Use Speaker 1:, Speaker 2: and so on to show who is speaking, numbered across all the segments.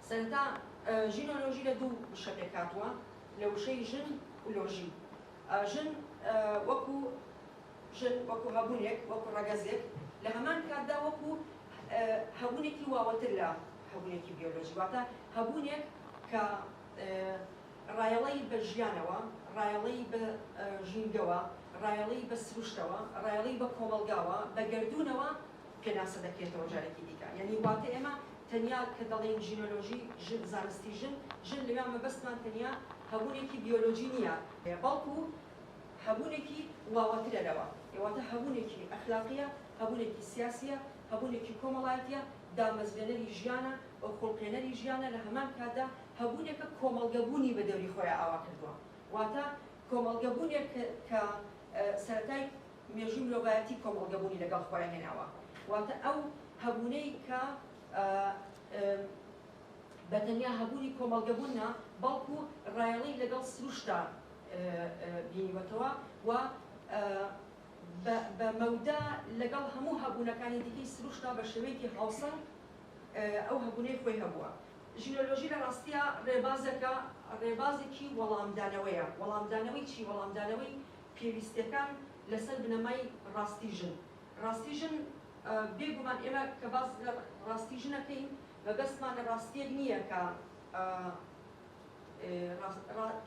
Speaker 1: سەرەتا ژینۆلۆژی لە دوو وشە پێکهاتووە، لە وشەی ژن و لۆژی. ژن وەکو ژن، وەکو هەبوونێک، وەکو ڕەگەزێک، لە هەمان کاتدا وەکو هەبوونێکی واوەتر لە هەبوونێکی بیۆلۆژی، واتە هەبوونێک کە ڕایەڵەی بە ژیانەوە، ڕایەڵەی بە ژینگەوە، ڕایەڵەی بە سروشتەوە، ڕایەڵەی بە کۆمەڵگاوە، بە گەردوونەوە، پێناسە دەکرێتەوە جارێکی دیکە یانی واتە ئێمە تەنیا کە دەڵێین ژینۆلۆژی ژن زانستی ژن ژن لەوێ مەبەستمان تەنیا هەبوونێکی بیۆلۆجی نییە، بەڵکو هەبوونێکی واوەترە لەوە واتە هەبوونێکی ئەخلاقییە، هەبوونێکی سیاسییە، هەبوونێکی کۆمەڵایەتییە، دامەزرێنەری ژیانە و خوڵقێنەری ژیانە لە هەمان کاتدا هەبوونێکە کۆمەڵگە بوونی بە دەوری خۆیا ئاوا کردووە واتە کۆمەڵگە بوونێک کە سەرەتای مێژوو مرۆڤایەتی کۆمەڵگەبوونی لەگەڵ خۆیان هێناوە، واتە ئەو هەبوونەی کە بە تەنیا هەبوونی کۆمەڵگەبوون نا، بەڵکو ڕایەڵەی لەگەڵ سروشتدا بینیوەتەوە و بە مەودا لەگەڵ هەموو هەبوونەکانی دیکەی سروشتدا بە شێوەیەکی هاوسەنگ ئەو هەبوونەی خۆی هەبووە. ژنۆلۆژی لە ڕاستیا ڕێبازێکە، ڕێبازێکی وەڵامدانەوەیە، وەڵامدانەوەی چی؟ وەڵامدانەوەی پێویستیەکان لەسەر بنەمای ڕاستی ژن ڕاستی ژن بێ گومان ئێمە کە باس لە ڕاستی ژن ئەکەین مەبەستمان لە ڕاستیەک نیە کە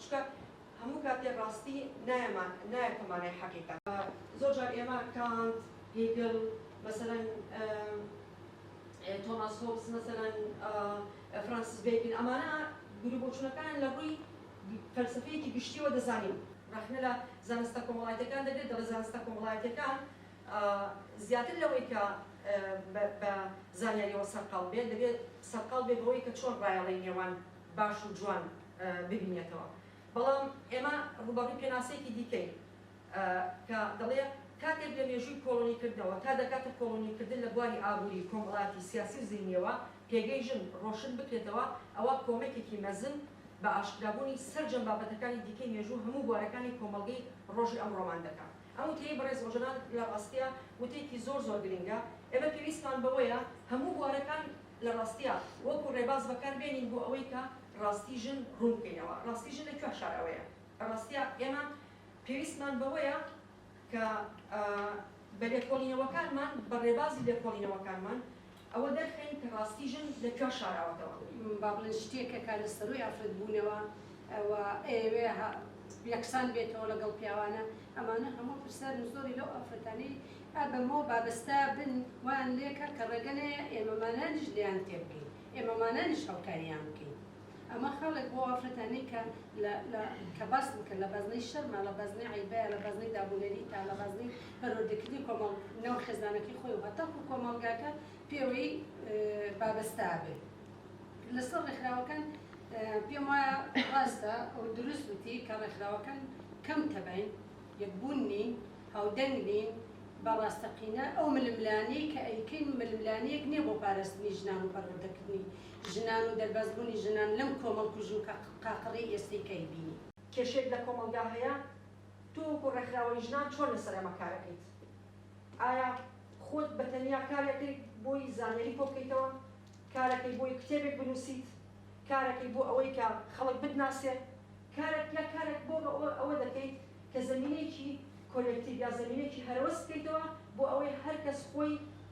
Speaker 1: چونکە هەموو کاتێ ڕاستی نایەتە مانای حەقیقەت. زۆر جار ئێمە کانت، هیگل، مەسەلەن تۆماس هۆبز، مەسەلەن فرانسیس بێکن ئەمانە بیروبۆچونەکانیان لە ڕووی فەلسەفەیەکی گشتییەوە دەزانین. ڕەخنە لە زانستە کۆمەڵایەتییەکان دەگرێت، دەڵێت زانستە کۆمەڵایەتییەکان زیاتر لەوەی کە بە زانیارییەوە سەرقاڵ بێت، دەبێت سەرقاڵ بێت بەوەی کە چۆن ڕایەڵەی نێوان باش و جوان ببینێتەوە. بەڵام ئێمە ڕووبەڕووی پێناسەیەکی دیکەین. ە کە دەڵێ کاتێک لە مێژووی کۆڵۆنیکردنەوە تا دەکاتە کۆڵۆنیکردن لە بواری ئابووری، کۆمەڵایەتی، سیاسی و زەینییەوە پێگەی ژن ڕۆشن بکرێتەوە ئەوا کۆمەکێکی مەزن بە ئاشکرابوونی سەرجەم بابەتەکانی دیکەی مێژوو هەموو بوارەکانی کۆمەڵگەی ڕۆژی ئەمڕۆمان دەکا. ئەم وتەیەی بەڕێز ئۆجەلان لە ڕاستیا وتەیەکی زۆر زۆر گرنگە، ئێمە پێویستمان بەوەیە هەموو بوارەکان لە ڕاستیا وەکوو ڕێباز بەکار بێنین بۆ ئەوەی کە ڕاستی ژن ڕوون بکەینەوە، ڕاستی ژن لە کوێ شارەوەیە؟ لە ڕاستیا ئێمە پێویستمان بەوەیە کە بە لێکۆڵینەوەکانمان، بە ڕێبازی لێکۆڵینەوەکانمان ئەوە دەرخەین کە ڕاستی ژن لە کوێ شاراوەتەوە. با بڵێن
Speaker 2: شتێکە کە لە سەرووی ئافرەت بوونەوە و ئەیەوێ یەکسان بێتەوە لەگەڵ پیاوانە، ئەمانە هەموو پرسە زۆری لەو ئافرەتانەی ئا بەمەوە بابەستە بن وایان لێکا کە ڕێگە نەیە ئێمەمانانیش لێیان تێبگەین، ئێمەمانانیش هەڵکاریان بکەین. ئەمە خەڵک بۆ ئافرەتانی کە لە لە کە باس بکەن لە بەزنەی شەرمە لە بەزنەی عەیبەیە لە بەزنەی دابونەریتە لە بەزنەی پەروەردەکردنی کۆمەڵ ناو خێزانەکەی خۆی و هەتاکوو کۆمەڵگاکە پێوەی بابەستا بێ لەسەر ڕێکخراوەکان پێم وایە ڕاستە ئەو دروست وتی کە ڕێکخراوەکان کەم تەبەین یەکبوون نین هاودەنگ نین بە ڕاستەقینە ئەو ململانێی کە ئەیکەین ململانێیەک نییە بۆ پارستنی ژنان و پەروەردەکردنی ژنان و دەربازبوونی ژنان لەم کۆمەڵکوژی و قاقڕی ئێستەی کەی بینی؟ کێشەیەک لە کۆمەڵگا
Speaker 1: هەیە؟ تۆ وەکو ڕێکخراوەی ژنان چۆن لەسەر ئەمە کار ئەکەیت؟ ئایا خۆت بە تەنیا کار ئەکەیت بۆی زانیاری کۆبکەیتەوە؟ کار ئەکەیت بۆی کتێبێک بنووسیت؟ کار ئەکەیت بۆ ئەوەی کە خەڵک بتناسێ؟ کارێک یا کارێک بۆ ئەوە دەکەیت کە زەمینەیەکی کۆلێکتیڤ یا زەمینەیەکی هەرەوەز بکەیتەوە بۆ ئەوەی هەر کەس خۆی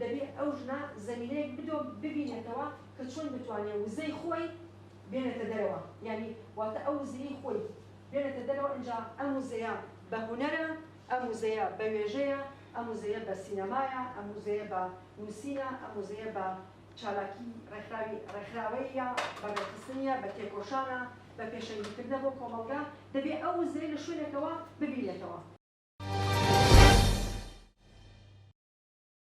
Speaker 1: دەبێ ئەو ژنە زەمینەیەک بدۆ ببینێتەوە کە چۆن بتوانێ وزەی خۆی بێنێتە دەرەوە یانی واتە ئەو وزەیەی خۆی بێنێتە دەرەوە ئینجا ئەم وزەیە بە هونەرە ئەم وزەیە بە وێژەیە ئەم وزەیە بە سینەمایە ئەم وزەیە بە نووسینە ئەم وزەیە بە چالاکی ڕێکخراوی ڕێکخراوەییە بە ڕێکخستنیە بە تێکۆشانە بە پێشەنگی کردنە بۆ کۆمەڵگا دەبێ ئەو وزەیە لە شوێنێکەوە ببینێتەوە.